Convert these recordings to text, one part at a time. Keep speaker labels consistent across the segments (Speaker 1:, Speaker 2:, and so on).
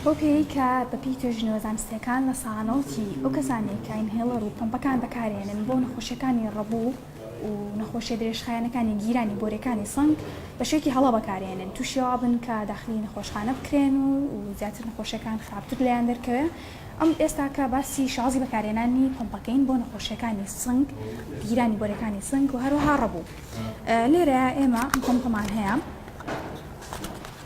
Speaker 1: بەو پێیەی کە بە پێی توێژینەوە زانستییەکان لە سانەوتی ئەو کەسانەی کە ئینهێڵەر و پەمپەکان بەکارهێنن بۆ نەخۆشیەکانی ڕەبوو و نەخۆشیە درێژخایەنەکانی گیرانی بۆریەکانی سنگ بە شێوەیەکی هەڵە بەکارهێنن تووشی ئەوە بن کە داخلی نەخۆشخانە بکرێن و و زیاتر نەخۆشیەکان خراپتر لێیان دەرکەوێ ئەم ئێستاکە باسی شازی بەکارهێنانی پەمپەکەین بۆ نەخۆشیەکانی سنگ گیرانی بۆریەکانی سنگ و هەروەها ڕەبوو لێرە ئێمە پەمپەمان هەیە.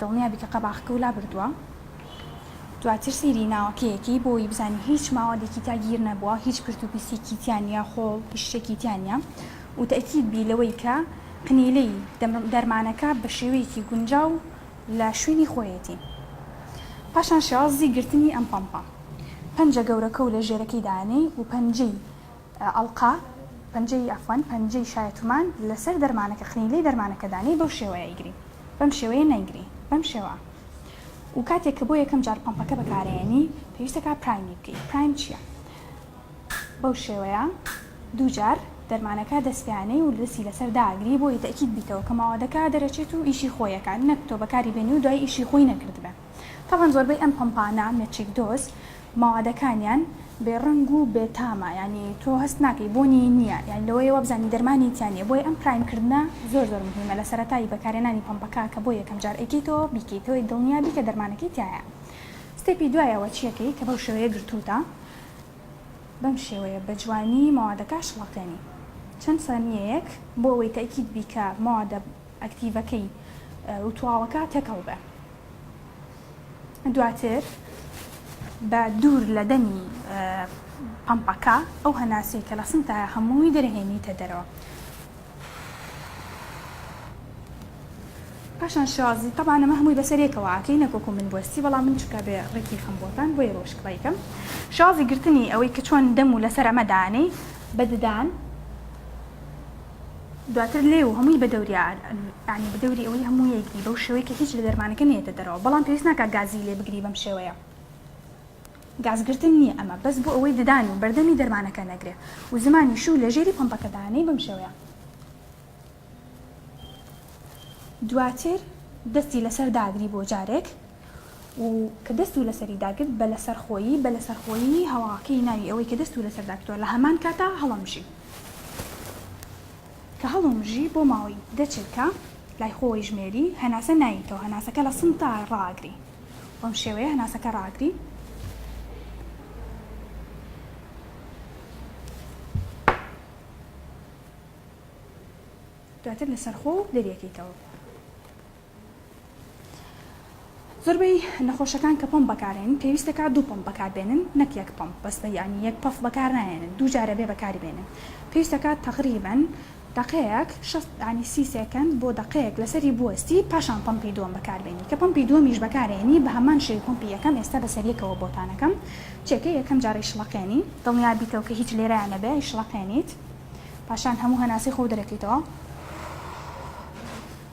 Speaker 1: دڵنیابی کە قەباخەکەو لابردوە دواتر سەیری ناوەکەیەکەی بۆوەی بزانی هیچ ماوەدێکی تیا گیر نەبوە هیچ پرت و پیسیکی تیا نیە خۆڵ هیچ شتێکی تیا نیە و تەئکید بی لەوەی کە قنیلەی دەرمانەکە بە شێوەیەکی گونجاو لە شوێنی خۆیەتی پاشان شێوازی گرتنی ئەم پەمپە پەنجە گەورەکەو لە ژێرەکەی دانێی و پەنجەی ئەڵقە، پەنجەی عەفوەن، پەنجەی شایەتومان لەسەر دەرمانەکە قنیلەی دەرمانەکە دانێی بەو شێوەیە ئەیگری بەم شێوەیە نەیگری بەم شێوە و کاتێک کە بۆ یەکەم جار پەمپەکە بەکارئەیەنی پێویستە کا پرایمی بکەی پرایم چیە بەو شێوەیە دوو جار دەرمانەکە دەست پێیانەی و دەستی لەسەر داگری بۆی تەکید بیتەوە کە ماوەدەکە دەرەچێت و ئیشی خۆیەکە نەک تۆ بەکاری بێنی و دوای ئیشی خۆی نەکردبێ. تەبعەن زۆربەی ئەم پەمپانە مێچیک دۆز مەوادەکانیان بێ ڕەنگ و بێ تامە یانی تۆ هەست ناکەی بۆنی نیە یانی لەوەیە وابزانی دەرمانی تیا نیە بۆیە ئەم پرایم کردنە زۆر زۆر مهیمە لە سەرەتای بەکارێنانی پەمپەکە کە بۆ یەکەم جار ئەیکەیتەوە بیکەیتەوەی دڵنیا بی کە دەرمانەکەی تیایە ستێپی دوای ئەوە چیەکەی کە بەو شێوەیە گرتوتە بەم شێوەیە بە جوانی مەوادەکە شڵەقێنی چەند سانیەیەک بۆ ئەوەی تەئکید بی کە مەوادە ئەکتیڤەکەی و تواوەکە تێکەڵ بێ دواتر بە دوور لە دەمی پەمپەکە ئەو هەناسەی کە لە سنتایە هەمووی دەرهێنیتە دەرەوە پاشان شازی تەبانە مە هەمووی بەسەرێکەوە ئاکەی نەکۆکو من بۆستی بەڵام من چکە بێ ڕێکی خەم بۆتان بۆی ڕۆشکڵیکەم شازی گرتنی ئەوەی کە چۆن دەم و لەسەر ئەمە دانەی بەددان دواتر لێ و هەمووی بە دەوری یانی بە دەوری ئەوەی هەموو یەکدی بەو شێوەی کە هیچ لە دەرمانەکە نێتە دەرەوە بەڵام پێویست ناکە گازی لێ بگری بەم شێوەیە گازگرتن نییە ئەمە بەس بۆ ئەوەی ددان و بەردەمی دەرمانەکە نەگرێ و زمانی شوو لە ژێری پمپەکەدانەی بەم شێوەیە دواتر دەستی لەسەر داگری بۆ جارێک و کە دەست و لەسەری داگرت بە لەسەر خۆیی بە لەسەر خۆیی هەواکەی ناوی ئەوەی کە دەست و لەسەر داگرتوە لە هەمان کاتا هەڵەمژی کە هەڵومژی بۆ ماوەی دە چرکە لای خۆی ژمێری هەناسە ناییتەوە هەناسەکە لە سم تا ڕاگری بەم شێوەیە هەناسەکە ڕاگری دواتر لەسەر خۆ دەریەکەیتەوە. زۆربەی نەخۆشەکان کە پەمپ بەکارهێنن پێویست دەکات دوو پەمپ بەکار بێنن نەک یەک پەمپ بەس یانی یەک پەف بەکار ناهێنن دوو جارە بێ بەکاری بێنن پێویست دەکات تەقریبەن دەقەیەک شەست یانی سی سێکەند بۆ دەقەیەک لەسەری بوەستی پاشان پەمپی دووەم بەکار بێنی کە پەمپی دووەمیش بەکارهێنی بە هەمان شێوی پەمپی یەکەم ئێستا بەسەر یەکەوە بۆتان ئەکەم چێکە یەکەم جار ئەیشڵەقێنی دڵنیا بیتەوە کە هیچ لێرەیا نەبێ ئەیشڵەقێنیت پاشان هەموو هەناسەی خۆو دەرەکەیتەوە.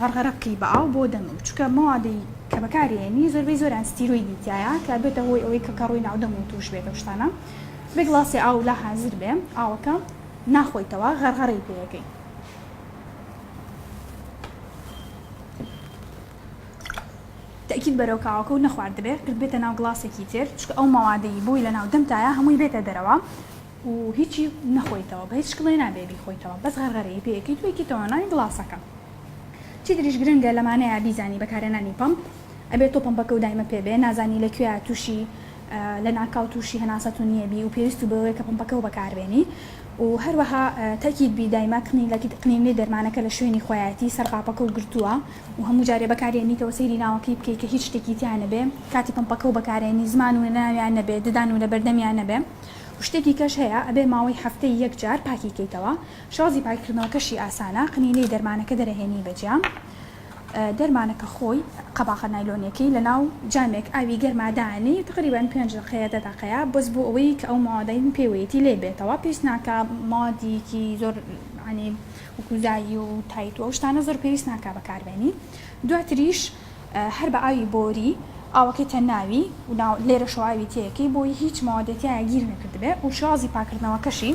Speaker 1: غەرغەرە بکەی بە ئاو بۆ دەمم چونکە مەوادی کە بەکاری ئێنی زۆربەی زۆریان ستیرۆیدی تیایە کە ئەبێتە هۆی ئەوەی کە کەڕووی ناو دەم و توش بێت ئەو شتانە بێ گڵاسێ ئاو لا حازر بێ ئاوەکە ناخۆیتەوە غەرغەرەی پێ ئەکەی. تەئکید بەرەو کاوەکە و نەخواردبێ قرت بێتە ناو گڵاسێکی تر چونکە ئەو مەوادەی بۆی لە ناو دەمتایە هەمووی بێتە دەرەوە. و هیچی نەخۆیتەوە بە هیچ شکڵێ نابێ بیخۆیتەوە بەس غەرغەرەی پێ ئەکەیت و ئەیکەی تۆناناوی گڵاسەکە چیتریش گرنگە لەمانەیە بیزانی بەکارهێنانی پەمپ ئەبێ تۆ پەمپەکە و دایمە پێ بێ نازانی لە کوێیا توشی لەناکاو توشی هەناسە تونیە بی و پێویست بەوەیە کە پەمپەکە و بەکاربێنی و هەروەها تەکید بی دایمە قنیلەکی قنینەی دەرمانەکە لە شوێنی خۆیایەتی سەر قاپەکە و گرتووە و هەموو جارێ بەکاریێنیتەوە سەیری ناوەکەی بکەی کە هیچ شتێکی تیا نەبێ کاتی پەمپەکە و بەکارێنی زمان و لەناویان نەبێ ددان و لەبەردەمیان نەبێ. و شتی دیکەش هەیە ئەبێ ماوەی هەفتەی یەک جار پاکی کەیتەوە شازی پاککردنەوەکەشی ئاسانە قنینەی دەرمانەکە دەرەهێنی بە جام دەرمانەکە خۆی قەباخە نایلۆنیەکەی لەناو جامێک ئاوی گەرما دانێی تقریبەن پێنج دەقەیە دە دەقەیە بەس بۆ ئەوەی کە ئەو مادەی پێوەیەتی لێ بێتەوە پێویست ناکا مادیکی زۆر عنی وکوزایی و تایت و ئەو شتانە زۆر پێویست ناکا بەکاربێنی دواتریش هەر بە ئاوی بۆری ئاوەکەی تە ناوی و ناو لێرەشەوە ئاوی تێکەی بۆی هیچ مەوادێ تیایا گیر نەکردبێ و شێوازی پاکردنەوەکەشی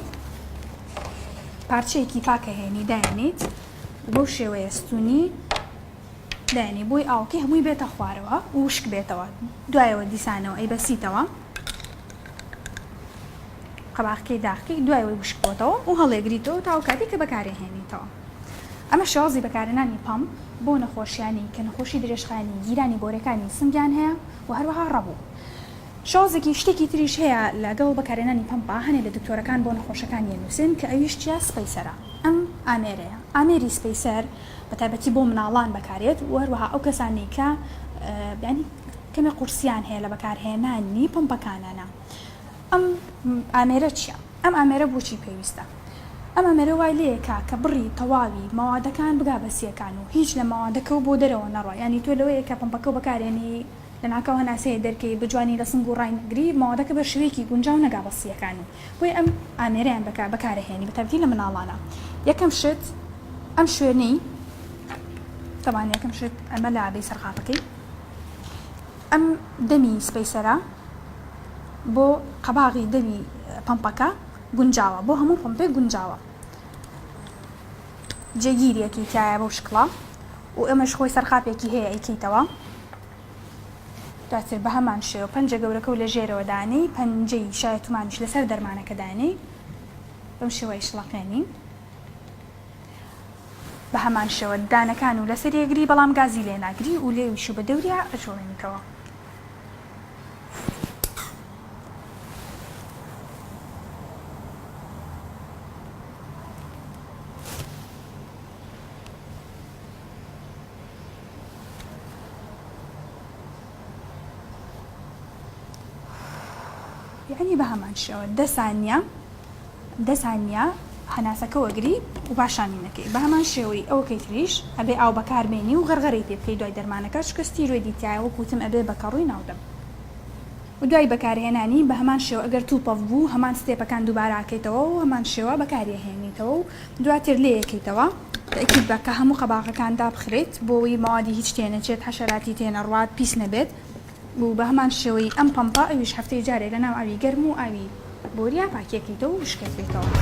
Speaker 1: پارچەیەکی پاکە هێنی داێنیت و بەو شێوەیە ستونی داێنی بۆی ئاوکەی هەمووی بێتە خوارەوە وشک بێتەوە دوایەوە دیسانەوە ئەی بەسیتەوە قەباخکەی داخکەی دوای وشک بۆتەوە و هەڵێگریتەوە تاو کاتی کە بەکارێ هێنیتەوە ئەمە شێوازی بەکارهێنانی پەمپ بۆ نەخۆشیانی کە نەخۆشی درێژخایەنی گیرانی بۆرەکانی سنگیان هەیە و هەروەها ڕەبو. شێوازێکی شتێکی تریش هەیە لە گەڵ بەکارهێنانی پەمپا هەنێ لە دکتۆرەکان بۆ نەخۆشەکانی ئەنوسێن کە ئەویش چیە سپەیسەرە ئەم ئامێرەیە ئامێری سپەیسەر بە تایبەتی بۆ مناڵان بەکارێت و هەروەها ئەو کەسانەی کە بیانی کەمێ قورسیان هەیە لە بەکارهێنانی پەمپەکانانا ئەم ئامێرە چیە؟ ئەم ئامێرە بۆچی پێویستە؟ ئەم ئامێرە وای لێکا کە بڕی تەواوی مەوادەکان بگا بە سیەکان و هیچ لە مەوادەکەو بۆ دەرەوە نەڕوا یانی تۆ لەوەیە کە پەمپەکەو بەکارێنی لەناکاو هەناسەیە دەرکەی بە جوانی لە سنگ و ڕای نەگری مەوادەکە بە شویەکی گونجاو نەگا بە سیەکان و بۆیە ئەم ئامێرەیان بەکار بەکارەهێنی بە تایبەتی لە مناڵانە یەکەم شت ئەم شوێنەی تەبان یەکەم شت ئەمە لابەی سەرقاپەکەی. ئەم دەمی سپەیسەرە بۆ قەباغی دەمی پەمپەکە گونجاوە بۆ هەموو پەمپێک گونجاوە جێگیریەکی تایە بەو شکڵە و ئەمەش خۆی سەرقاپێکی هەیە ئەیکەیتەوە دواتر بە هەمان شێوە پەنجە گەورەکە و لە ژێرەوە دانی پەنجەی شایەتومانیش لەسەر دەرمانەکە دانی بەم شێوەی شڵەقێنی. بە هەمان شێوە دانەکان و لەسەری ئەگری بەڵام گازی لێ ناگری و لێویش و بە دەوریا ئەجوڵێنیتەوە. یەعنی بە هەمان شێوە دە سانیە دە سانیە هەناسەکە وەگری و پاشانی نەکەی بە هەمان شێوەی ئەوەکەی تریش ئەبێ ئاو بەکار بێنی و غەرغەرەی پێ بکەی دوای دەرمانەکە چونکە ستیرۆیدی تیایە وەک وتم ئەبێ بە کەڕووی ناو دەم و دوای بەکار هێنانی بە هەمان شێوە ئەگەر توپەف بوو هەمان ستێپەکان دووبارە ئەکەیتەوە و هەمان شێوە بەکاری ئەهێنیتەوە و دواتر لێ ئەکەیتەوە تەئکید بە کە هەموو قەباغەکان دابخرێیت بۆ وەی مەوادی هیچ تێ نەچێت حەشەراتی تێ نەڕوات پیس نەبێت. و بەهەمان شێوەی ئەم پەمپە ئەویش هەفتەی جارێ لەناو ئاوی گەرم و ئاوی بۆریا پاکیەکەیتەوە و وشکەکەیتەوە.